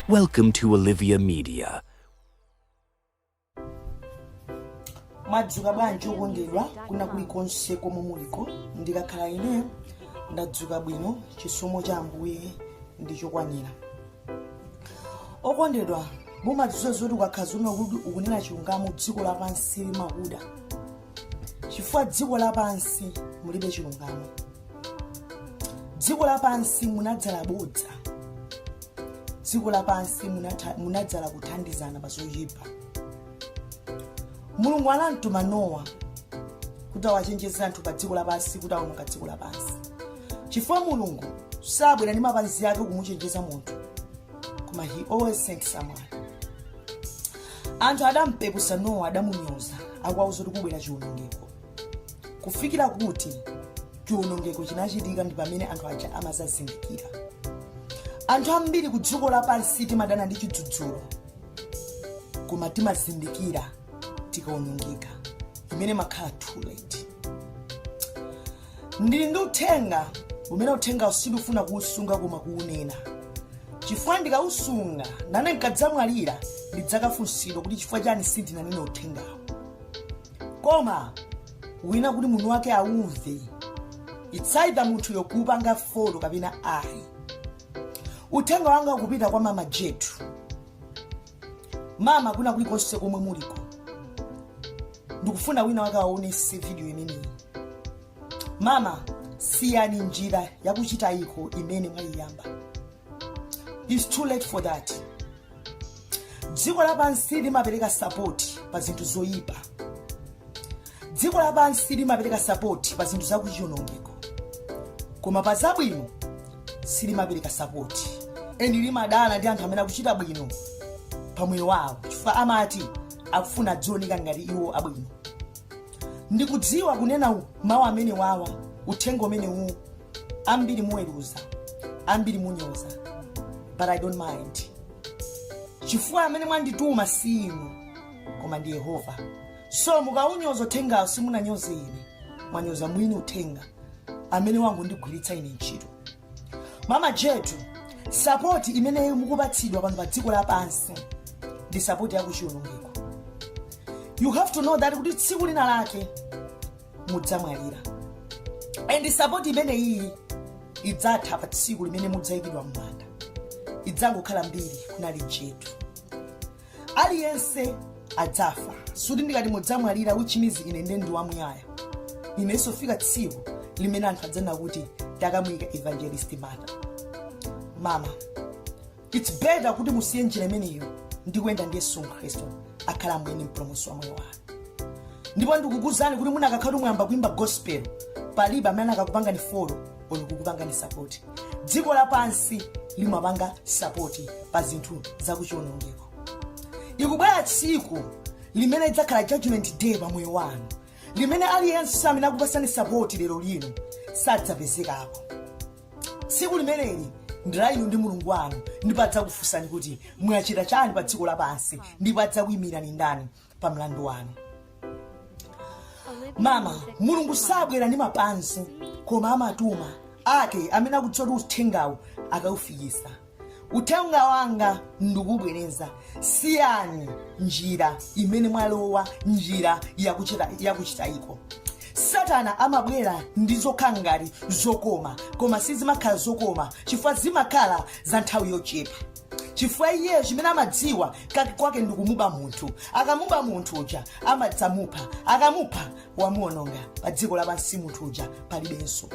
Welcome to Olivia Media. mwadzuka bwanji okondedwa kuna kulikonse komwe muliko ndikakhala ine ndadzuka bwino chisomo cha ambuye ndi chokwanira okondedwa mumadziwa zoti ukakhala zomwe kuti ukunena chilungamo dziko lapansi limakuda chifukwa dziko lapansi mulibe chilungamo dziko lapansi munadzala bodza dziko lapansi munadzala kuthandizana pa zoyipa mulungu anamtuma nowa kuti awachenjeze anthu pa dziko lapansi kuti awononga dziko lapansi chifukwa mulungu sabwera ndi mapazi ake kumuchenjeza munthu koma he always send someone anthu adampeputsa nowa adamunyoza akuwauza kuti kubwera chiwonongeko kufikira kuti chiwonongeko chinachitika ndi pamene anthu aja amadzazindikira anthu ambiri ku dziko lapansi timadana ndi chidzudzulo koma timazindikira tikawonongeka imene imakhala too late ndili ndi uthenga umene uthengawo sindifuna kuusunga koma kuunena chifukwa ndikausunga nane nkadzamwalira ndidzakafunsidwa kuti chifukwa chani sindinanena uthengawo koma wina kuti munthu wake aumve it's either munthuyo kupanga follow kapena ayi uthenga wanga ukupita kwa mama jetu mama kuna kulikonse komwe muliko ndikufuna wina wake awaonese video imeneyi mama siyani njira yakuchitaiko imene mwayiyamba it's too late for that dziko lapansi limapereka sapoti pa zinthu zoyipa dziko lapansi limapereka sapoti pa zinthu zakuchionongeko koma pa zabwino silimapereka sapoti eni limadana ndi anthu amene akuchita bwino pa moyo wawo chifukwa amati akufuna adzioneka ngati iwo abwino ndikudziwa kunena mawu amene awa uthenga umenewu uwu ambiri muweruza ambiri munyoza but i don't mind chifukwa amene mwandituma si inu koma ndi yehova so mukaunyoza uthengawo simunanyoze ine mwanyoza mwini uthenga amene wangondigwiritsa ine ntchito mama jetu sapoti imene mukupatsidwa pano pa dziko lapansi ndi sapoti yakuchiwonongeko you have to know that kuti tsiku lina lake mudzamwalira and sapoti imene iyi idzatha pa tsiku limene mudzayikidwa m'manda idzangokhala mbiri kunali jetu aliyense adzafa suti ndikati mudzamwalira which means ine nde ndi wamuyaya inenso fika tsiku limene anthu adzanena kuti takamuyika evangelist mata mama its better kuti musiye njira imeneyo ndi kuyenda ndi yesu khristu akhale mwini mpulumutsi wa moyo wanu ndipo ndikukuuzani kuti munakakhala kuti mwayamba kuimba gospel palibe amene anakakupangani folo olo kukupangani sapoti dziko lapansi limapanga sapoti pa zinthu zakuchionongeko likubwera tsiku limene lidzakhala judgment day pa moyo wanu limene aliyense amene akukupatsani sapoti lero lino sadzapezekapo tsiku limeneli ndi la inu ndi mulungu wanu ndipo adzakufunsani kuti mwachita chani pa dziko lapansi ndipo adzakuyimirani ndani pa mlandu wanu mama mulungu sabwera ndi mapansi koma amatuma ake amene akudziwa kuti uthengawu akaufikisa uthenga wanga ndikubwereza siyani njira imene mwalowa njira yakuchitaiko satana amabwera ndi zokhala ngati zokoma koma sizimakhala zokoma chifukwa zimakhala za nthawi yochepa chifukwa iyeyo chimene amadziwa kake kwake ndi kumuba munthu akamuba munthu uja amadzamupha akamupha wamuononga pa dziko lapansi munthu uja palibenso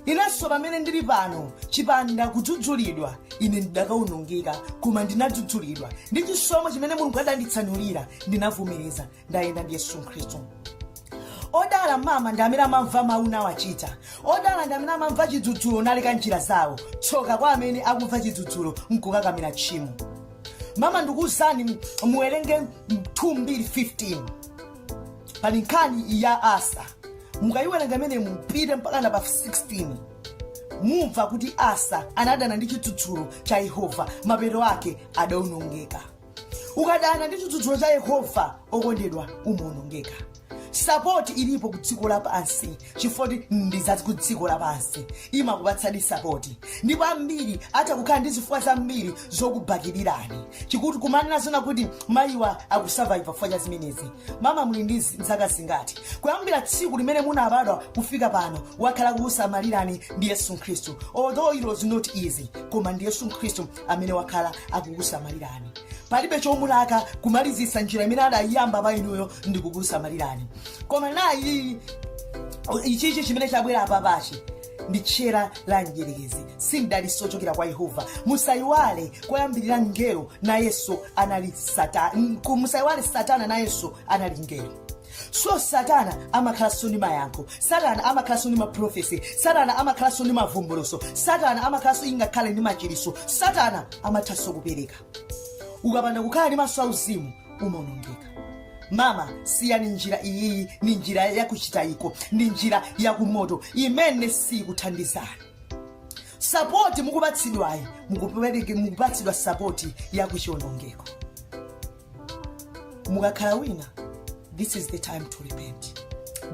inenso pamene ndili pano chipanda kudzudzulidwa ine ndidakaonongeka koma ndinadzudzulidwa ndi chisomo chimene mulungu adanditsanulira ndinavomereza ndayenda ndi yesu khristu odala mama ndi amene amamva mawu nawachita odala ndi amene amamva chidzudzulo naleka njira zawo tsoka kwa amene akumva chidzudzulo nkukakamira tchimo mama ndikuwuzani muwerenge 2:15 pali nkhani ya asa mukayiwerenga imeneyo mupite mpaka na pa 16 mumva kuti asa anadana ndi chidzudzulo cha yehova mapeto ake adaonongeka ukadana ndi chidzudzulo cha yehova okondedwa umaonongeka sapoti ilipo ku dziko lapansi chifukwa ndi za ku dziko lapansi limakupatsani sapoti ndipo ambiri atha kukhala ndi zifukwa zambiri zokubakirirani chikuti kumanena zona kuti mayiwa akusurvive chifukwa cha zimenezi mama muli ndi zaka zingati kuyambira tsiku limene munabadwa kufika pano wakhala kukusamalirani ndi yesu khristu although it was not easy koma ndi yesu khristu amene wakhala akukusamalirani palibe chomulaka kumalizitsa njira imene adayiyamba pa inuyo ndi kukusamalirani koma nayi ichichi chimene chabwera apapachi ndi tchera la mdyerekezi si mdalitso wochokera kwa yehova musayiwale koyambirira mngelo nayenso anali satana musayiwale satana nayenso anali mngelo so satana amakhalanso ndi mayankho satana amakhalanso ndi maprofesi satana amakhalanso ndi mavumbuluso satana amakhalanso ingakhale ndi machiriso satana amathanso kupereka ukapanda kukhala ndi maso auzimu umaonongeka mama siyani njira iyiyi ni njira yakuchitayiko ndi njira yakumoto imene sikuthandizani sapoti mukupatsidwayi mukupatsidwa sapoti yakuchionongeko mukakhala wina this is the time to repent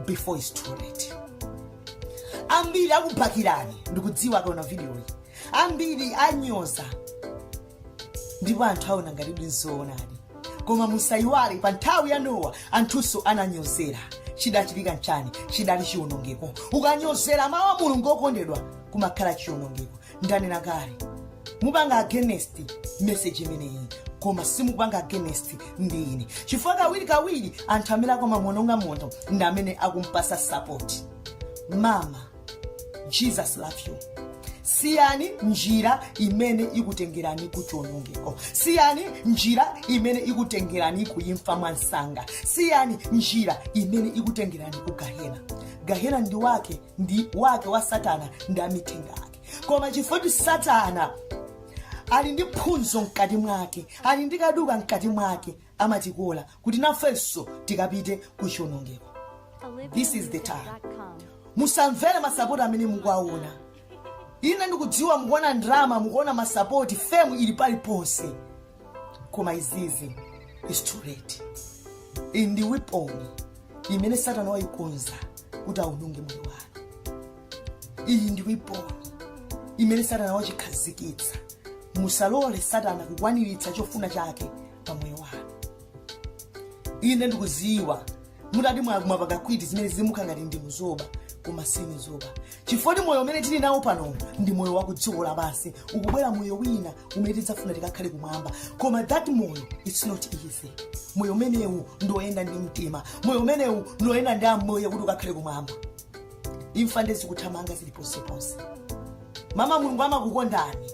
before it's too late ambiri akubakirani ndikudziwa akaona vidiyoyi ambiri anyoza ndipo anthu aona ngati ndi zoonadi koma musayiwale pa nthawi ya nowa anthunso ananyozera chidachitika nchani chidali chiwonongeko ukanyozera mawu a mulungu okondedwa kumakhala chiwonongeko ndanena kale mupanga against message imeneyi koma simupanga against ndi ine chifukwa kawiri kawiri anthu amene akumamuononga munthu ndi amene akumpasa support mama jesus love you siyani njira imene ikutengerani ku chiwonongeko siyani njira imene ikutengerani ku imfa mwa nsanga siyani njira imene ikutengerani ku gahena gahena ndi wake ndi wake wa satana ndi amithenga ake koma chifukwa choti satana ali ndi phunzo mkati mwake ali ndi kaduka mkati mwake amatikola kuti nafenso tikapite ku chionongeko This is the time. musamvere masapoti amene mukuwaona ine ndikudziwa mukuona drama mukuona masapoti femu ili paliponse koma izizi is too late iyi ndi wiponi imene satana wayikonza kuti awononge moyo wanu iyi ndi wiponi imene satana wachikhazikitsa musalole satana kukwaniritsa chofuna chake pa moyo wanu ine ndikudziwa mutati mwakumwa pakakwiti zimene zimuka ngati ndimu zoba koma si nizoba chifukwa moyo umene tili nawo pano ndi moyo wa kudziko lapansi ukubwera moyo wina umene tidzafuna tikakhale kumwamba koma that moyo it's not easy moyo umenewu ndi oyenda ndi mtima moyo umenewu ndi oyenda ndi amoyo kuti ukakhale kumwamba imfa ndezikuthamanga zili ponseponse mama mulungu amakukondani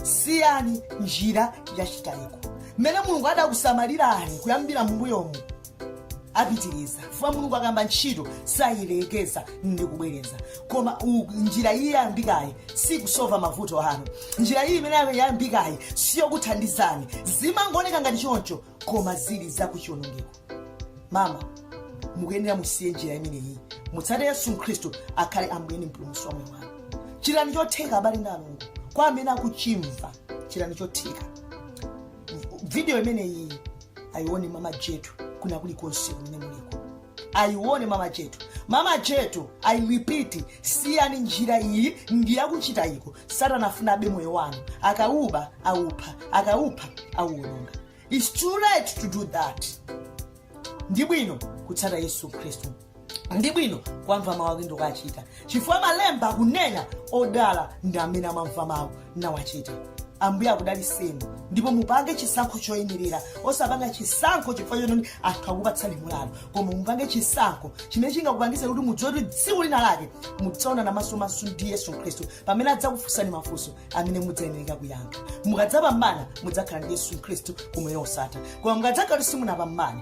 siyani njira yachitayiko mmene mulungu adakusamalirani kuyambira mumbuyomu apitiriza chifukwa mulungu akayamba ntchito sayilekeza ndikubwereza koma u- njira iyi yayambikayi sikusova mavuto anu njira iyi imene yayambikayi siyokuthandizani zimangooneka ngati choncho koma zili zakuchionongeko mama mukuyenera musiye njira imeneyi mutsate yesu khristu akhale ambuye ndi mpulumutsi wa moyo wanu chitani chotheka abale ndi alongo kwa amene akuchimva chitani chotheka video imeneyi ayione mama jetu kuna kuli konse kumene muliko ayione mama jetu mama jetu i repeat siyani njira iyi ndi yakuchitayiko satana afuna abe moyo wanu akauba aupha akaupha auononga its too late to do that ndi bwino kutsata yesu khristu ndi bwino kuwamva mawu ake ndikuwachita chifukwa malemba akunena odala ndi amene amamva mawu nawachita ambuye akudaliseni ndipo mupange chisankho choyenerera osapanga chisankho chifukwa choti anthu akupatsani mulalo koma mupange chisankho chimene chingakupangise kuti mudziwe kuti tsiku lina lake mudzaonana masomaso ndi yesu khristu pamene adzakufunsani mafunso amene mudzayenereka kuyankha mukadzapambana mudzakhala ndi yesu khristu kumoyo osatha koma mukadzakhala kuti simunapambane